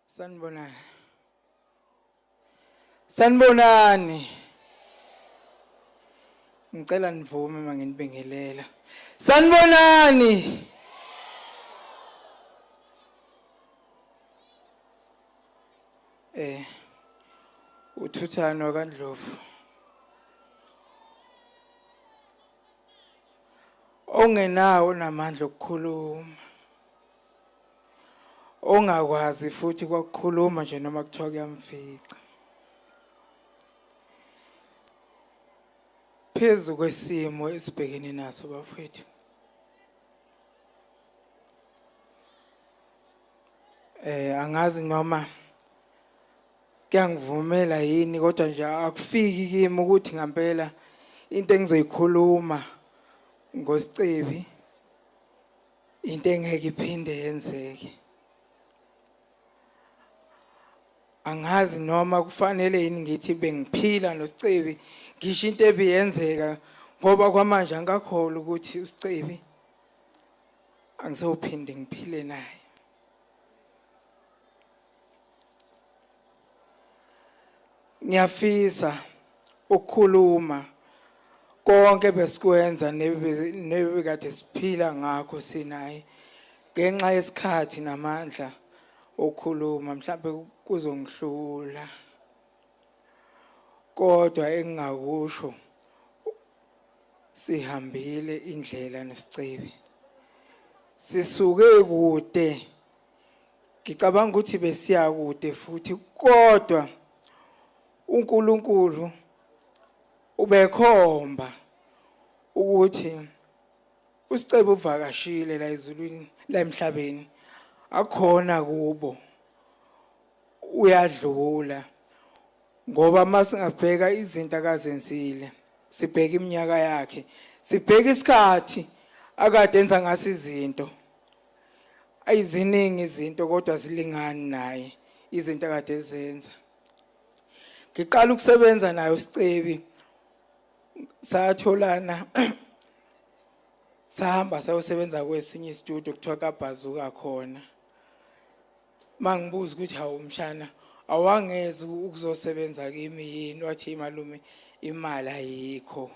Sanibonani. Sanibonani. Ngicela nivume manginibingelela. Sanibonani. Eh uthuthano kaNdlovu. Ongenawo namandla okukhuluma. ongakwazi futhi kwakukhuluma nje noma kuthiwa kuyamfica phezu kwesimo esibhekene naso bafethu eh angazi noma kuyangivumela yini kodwa nje akufiki kimi ukuthi ngempela into engizoyikhuluma ngosicebi into engeke iphinde yenzeke angazi noma kufanele yini ngithi bengiphila nosicebi ngisho into ebiyenzeka ngoba kwamanje angikakholwa ukuthi usicebi angisophinde ngiphile naye ngiyafisa ukukhuluma konke besikwenza nebekade siphila ngakho sinaye ngenxa yesikhathi namandla okukhuluma mhlawumbe kuzongihlula kodwa engingakusho sihambile indlela nesicebi sisuke kude ngicabanga ukuthi besiya kude futhi kodwa uNkulunkulu ubekhomba ukuthi usicebe uvakashile la ezulwini la emhlabeni akhona kubo uyadlula ngoba masingabheka izinto akazenzile sibheke iminyaka yakhe sibheke isikhathi akade enza ngaso izinto ayiziningi izinto kodwa zilingani naye izinto akade ezenza ngiqala ukusebenza nayo sicebi satholana sahamba sayosebenza kwesinye istudio kuthiwa kabhazuka khona mangibuza ukuthi hawu mshana awangezi ukuzosebenza kimi yini wathi malume imali ayikho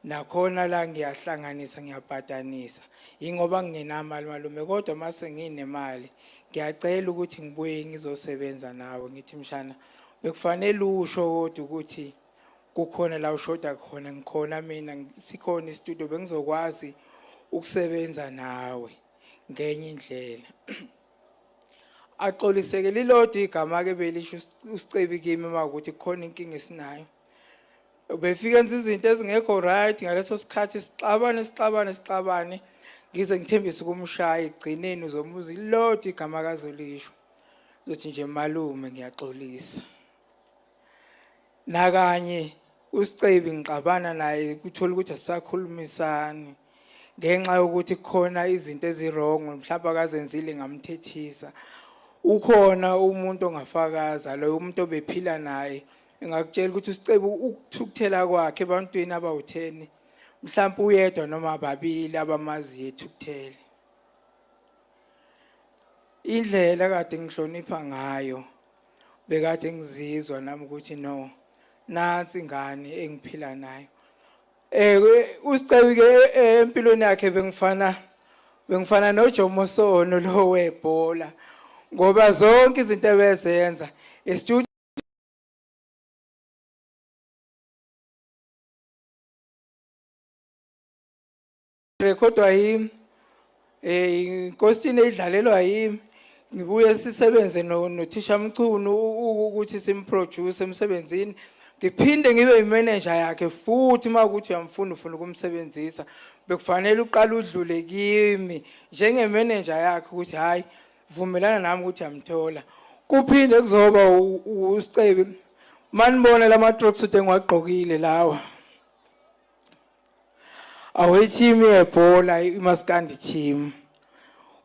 nakhona la ngiyahlanganisa ngiyabhadanisa yingoba ngingenamali malume kodwa mase nginemali ngiyacela ukuthi ngibuye ngizosebenza nawe ngithi mshana bekufanele usho kodwa ukuthi kukhona la ushoda khona ngikhona mina sikhona istudio bengizokwazi ukusebenza nawe ngenye indlela axoliseke lilodwa igama ke belisho usicebi kimi uma ukuthi khona inkinga esinayo ubefike enza izinto ezingekho right ngaleso sikhathi sixabane sixabane sixabane ngize ngithembise ukumshaya egcineni uzomuza ilodwa igama kazolisho uzothi nje malume ngiyaxolisa nakanye usicebi ngixabana naye kuthola ukuthi asisakhulumisani ngenxa yokuthi khona izinto ezirong mhlawumbe akazenzile ngamthethisa ukhona umuntu ongafakaza loyo umuntu obephila naye ngakutshela ukuthi usicebu ukuthukuthela kwakhe ebantwini abawutheni mhlawumbe uyedwa noma babili abamaziyo ethukuthele indlela kade ngihlonipha ngayo bekade ngizizwa nami ukuthi no nansi ingane engiphila nayo eh usicebi ke eh, empilweni yakhe bengifana bengifana noJomo Sono lo webhola ngoba zonke izinto ebezenza estudio rekhodwa yimi eh inkosini edlalelwa yimi ngibuye sisebenze nothisha Mchunu ukuthi simproduce emsebenzini ngiphinde ngibe imanager yakhe futhi uma ukuthi uyamfuna ufuna ukumsebenzisa bekufanele uqala udlule kimi njengemanager yakhe ukuthi hayi vumelana nami ukuthi yamthola kuphinde kuzoba usicebi manibona lama trucks ude ngiwagqokile lawa Awe team yebhola iMaskandi team.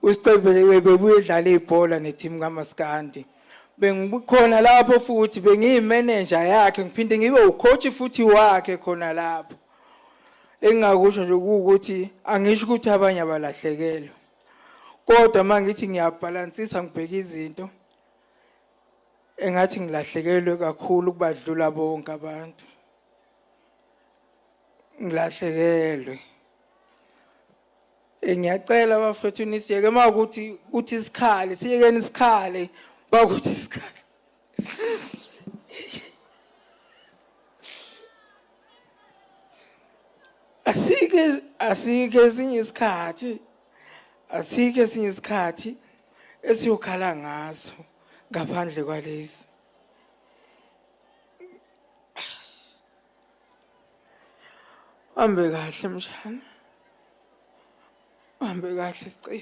Usiqebele bebuye edlala ibhola ne team kaMaskandi. Bengikhona lapho futhi bengiyi manager yakhe ngiphinde ngibe ucoach futhi wakhe khona lapho. Engingakusho nje ukuthi angisho ukuthi abanye abalahlekelwe. Kodwa mangithi ngiyabhalansisa ngibheka izinto engathi ngilahlekelwe kakhulu kubadlula bonke abantu. ngilahlekelwe eh, ngiyacela bafethu nisiyeke uma ukuthi kuthi isikhali siyekeni isikhali uma kuthi isikhali asike asike esinye isikhathi asike esinye isikhathi esiyokhala ngaso ngaphandle kwalezi Hambe kahle mshana. Hambe kahle sicela.